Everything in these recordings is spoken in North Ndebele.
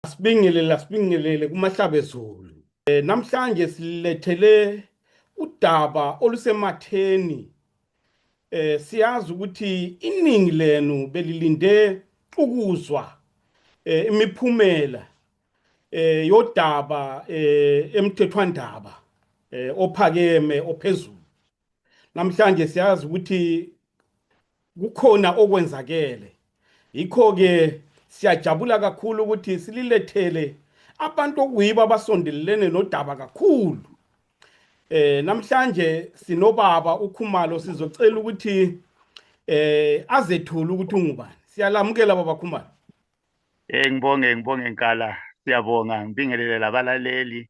Asibingelele asibingelele kumahlabezulu. E, namhlanje silethele udaba olusematheni. E, siyazi ukuthi iningi lenu belilinde ukuzwa e, imiphumela e, yodaba e, emthethwandaba e, ophakeme ophezulu. namhlanje siyazi ukuthi kukhona okwenzakele yikho-ke siyajabula kakhulu ukuthi sililethele abantu okuyibo abasondelelene nodaba kakhulu eh namhlanje sinobaba ukhumalo sizocela ukuthi eh azethule ukuthi ungubani siyalamukela baba khumalo eh ngibonge ngibonge nkala siyabonga ngibingelele labalaleli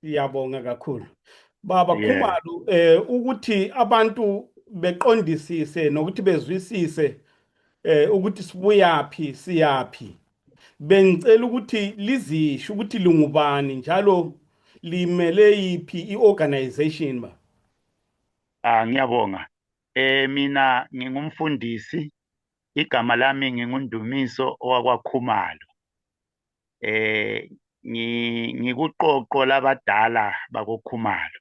Siyabonga kakhulu. Baba yeah. Khumalo eh ukuthi abantu beqondisise nokuthi bezwisise eh ukuthi sibuyaphi siyaphi. Bengicela ukuthi lizisho ukuthi lingubani njalo limele yiphi iorganization ba. Ah ngiyabonga. Eh mina ngingumfundisi Igama lami nginguNdumiso owakwaKhumalo. Eh ngikuqoqo labadala bakoKhumalo.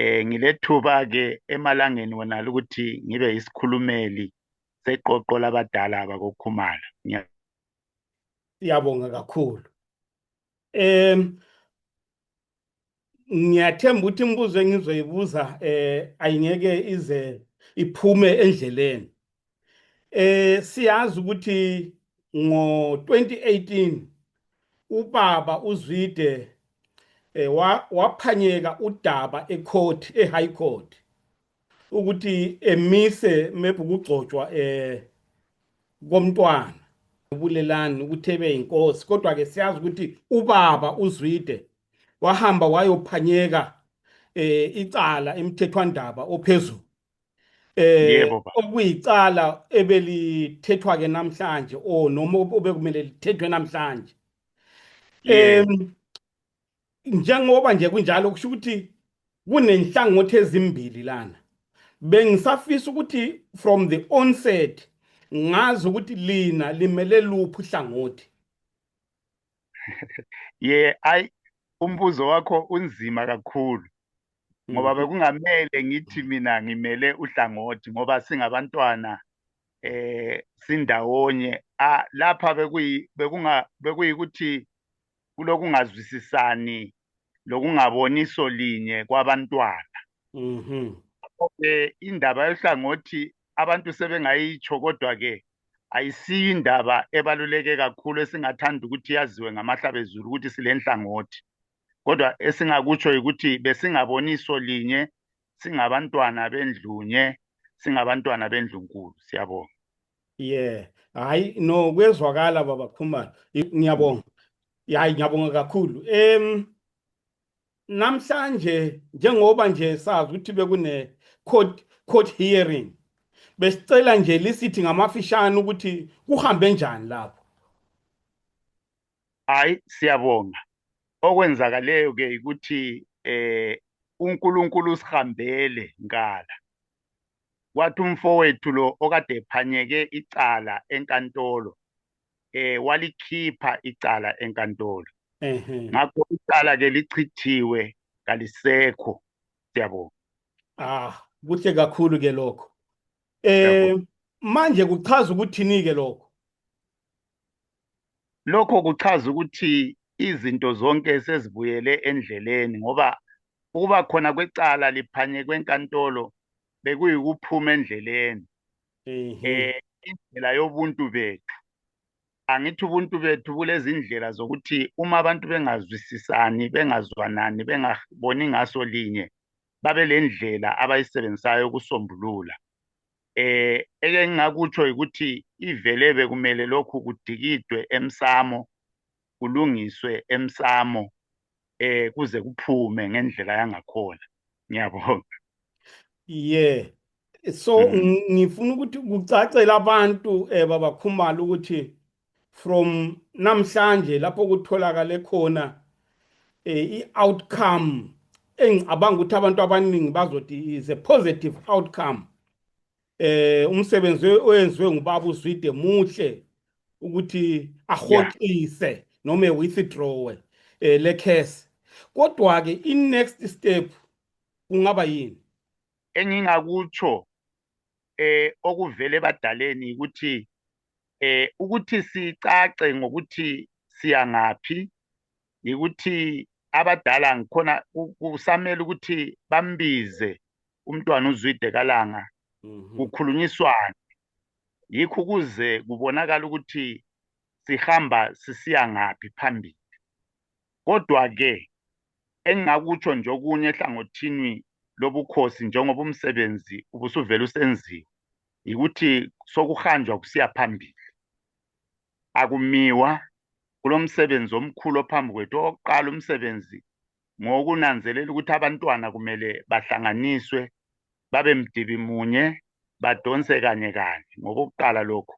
Eh ngilethuba ke emalangeni wonala ukuthi ngibe yisikhulumeli seqoqo labadala bakoKhumalo. Siyabonga kakhulu. um ngiyathemba ukuthi imibuzo engizoyibuza um ayingeke ize iphume endleleni um siyazi ukuthi ngo-2018 ubaba uzwide um waphanyeka udaba ecourt e-high court ukuthi emise maybe ukugcotshwa eh komntwana ubulelani ukuthi ebe inkosi kodwa ke siyazi ukuthi ubaba uzwide wahamba wayophanyeka eh icala imthethwandaba ophezulu eh okuyicala ebelithethwa ke namhlanje o noma obekumele lithethwe namhlanje em njengoba nje kunjalo kusho ukuthi kunenhlangothi ezimbili lana bengisafisa ukuthi from the onset ngazi ukuthi lina limele luphi uhlangothi ye ayi umbuzo wakho unzima kakhulu ngoba mm. bekungamele ngithi mina ngimele uhlangothi ngoba singabantwana eh sindawonye ah lapha bekuyi bekunga bekuyikuthi kulokungazwisisani lokungaboniso linye kwabantwana mhm ke indaba yohlangothi abantu sebengayitsho kodwa ke ayisiyo indaba ebaluleke kakhulu esingathanda ukuthi yaziwe ngamahlabezulu ukuthi silenhlangothi kodwa esingakutsho yikuthi besingaboniso linye singabantwana bendlunye singabantwana bendlunkulu siyabonga yeah hayi no kuyezwakala baba khumalo ngiyabonga hayi ngiyabonga kakhulu em namhlanje njengoba nje sazi ukuthi bekune court court hearing besicela nje lisithi ngamafishane ukuthi kuhambe njani lapho hayi siyabonga okwenzakaleyo ke ukuthi eh uNkulunkulu usihambele ngala kwathi umfowethu lo okade ephanyeke icala enkantolo eh walikhipha icala enkantolo ngakho icala ke lichithiwe kalisekho siyabonga ah kuhle kakhulu ke lokho eh manje kuchaza ukuthini ke lokho Lokho kuchaza ukuthi izinto zonke sezibuyele endleleni ngoba ukuba khona kwecala liphanye kwenkantolo bekuyikuphuma endleleni eh indlela yobuntu bethu angithi ubuntu bethu bulezindlela zokuthi uma abantu bengazwisisani bengazwanani bengaboni ngaso linye babe lendlela abayisebenzisayo ukusombulula eh eke ngingakutsho ukuthi ivele bekumele lokhu kudikidwe emsamo kulungiswe emsamo eh kuze kuphume ngendlela yangakhona ngiyabonga yeah so mm-hmm. ngifuna ukuthi kucacele abantu eh baba Khumalo ukuthi from namhlanje lapho kutholakale khona eh, i-outcome engicabanga ukuthi abantu abaningi bazothi is a positive outcome eh umsebenzi oyenziwe ngubaba uzwide muhle ukuthi ahoxise noma withdraw eh le case kodwa ke i next step kungaba yini engingakutsho eh okuvele badaleni ukuthi eh ukuthi sicace ngokuthi siyangaphi yikuthi abadala ngikhona kusamele ukuthi bambize umntwana uzwide kalanga mhm. kukhulunyiswane yikho ukuze kubonakala ukuthi sihamba sisiya ngaphi phambili kodwa ke engingakutsho nje okunye ehlangothini lobukhosi njengoba umsebenzi ubusuvele usenziwe yikuthi sokuhanjwa kusiya phambili akumiwa kulomsebenzi omkhulu ophambi kwethu owokuqala umsebenzi ngokunanzelela ukuthi abantwana kumele bahlanganiswe babe mdibi munye badonse kanye kanye ngokokuqala lokhu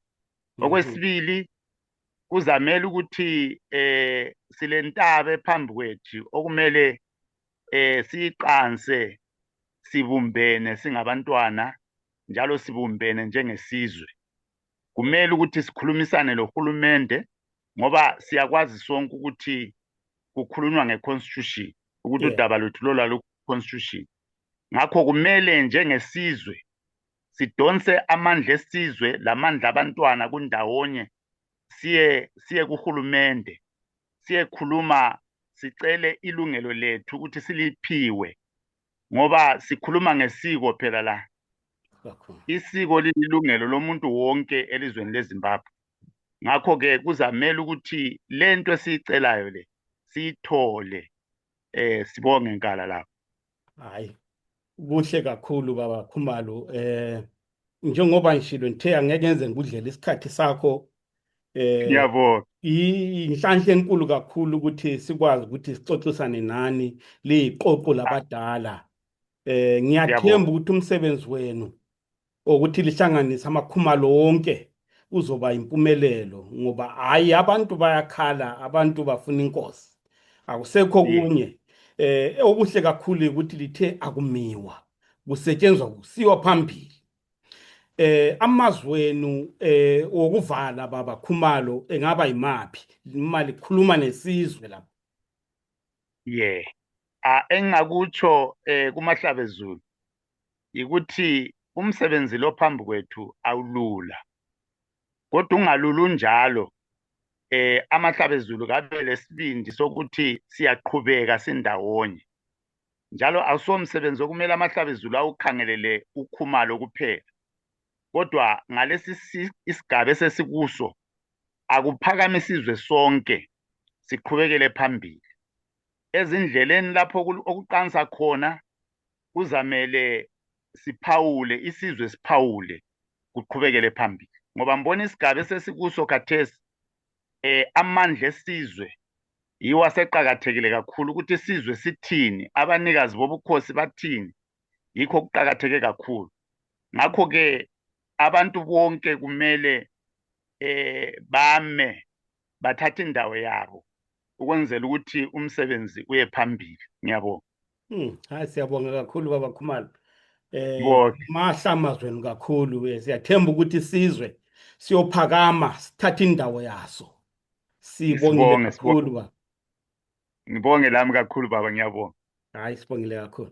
mhm. okwesibili kuzamele ukuthi eh silentaba phambi kwethu okumele eh siqanse sibumbene singabantwana njalo sibumbene njengesizwe kumele ukuthi sikhulumisane lohulumende ngoba siyakwazi sonke ukuthi kukhulunywa ngeconstitution ukuthi udaba lwethu lola luconstitution ngakho kumele njengesizwe sidonse amandla esizwe lamandla abantwana kundawonye siye siye kuhulumende siyekhuluma sicele ilungelo lethu ukuthi siliphiwe ngoba sikhuluma ngesiko phela la isiko lililungelo lomuntu wonke elizweni lezimbabwe ngakho-ke kuzamele ukuthi le nto esiyicelayo le siyithole eh sibonge nkala lapho hayi kuhle kakhulu baba khumalo eh njengoba ngishilo ngithe angeke ngenze ngikudlela isikhathi sakho eh yabo inhlanhla enkulu kakhulu ukuthi sikwazi ukuthi sixoxisane nani liqoqo labadala eh ngiyathemba ukuthi umsebenzi wenu ukuthi lihlanganise amakhumalo wonke kuzoba impumelelo ngoba hayi abantu bayakhala abantu bafuna inkosi akusekho kunye eh okuhle kakhulu ukuthi lithe akumiwa kusetshenzwa kusiwa phambili eh amazwenu eh wokuvala baba khumalo engaba imaphi imali khuluma nesizwe lapha yeah a engakutsho eh kumahlabezulu yikuthi umsebenzi lo phambi kwethu awulula kodwa ungalulu njalo eh amahlabezulu kabe lesibindi sokuthi siyaqhubeka sindawonye njalo awusomsebenzi okumele amahlabezulu awukhangelele ukhumalo kuphela kodwa ngalesi isigaba esesikuso akuphakame isizwe sonke siqhubekele phambili ezindleleni lapho okuqansa khona kuzamele siphawule isizwe siphawule kuqhubekele phambili ngoba mbona isigaba esesikuso khathesi eh amandla esizwe yiwo aseqakathekile kakhulu ukuthi isizwe sithini abanikazi bobukhosi bathini yikho kuqakatheke kakhulu ngakho-ke abantu bonke kumele eh bame bathatha indawo yabo ukwenzela ukuthi umsebenzi uye phambili ngiyabonga hmm, hayi siyabonga kakhulu baba khumalo um mahlamazweni kakhulu eh, siyathemba ukuthi isizwe siyophakama sithathe indawo yaso sibongile kakhulu baba ngibonge lami kakhulu baba ngiyabonga hayi sibongile kakhulu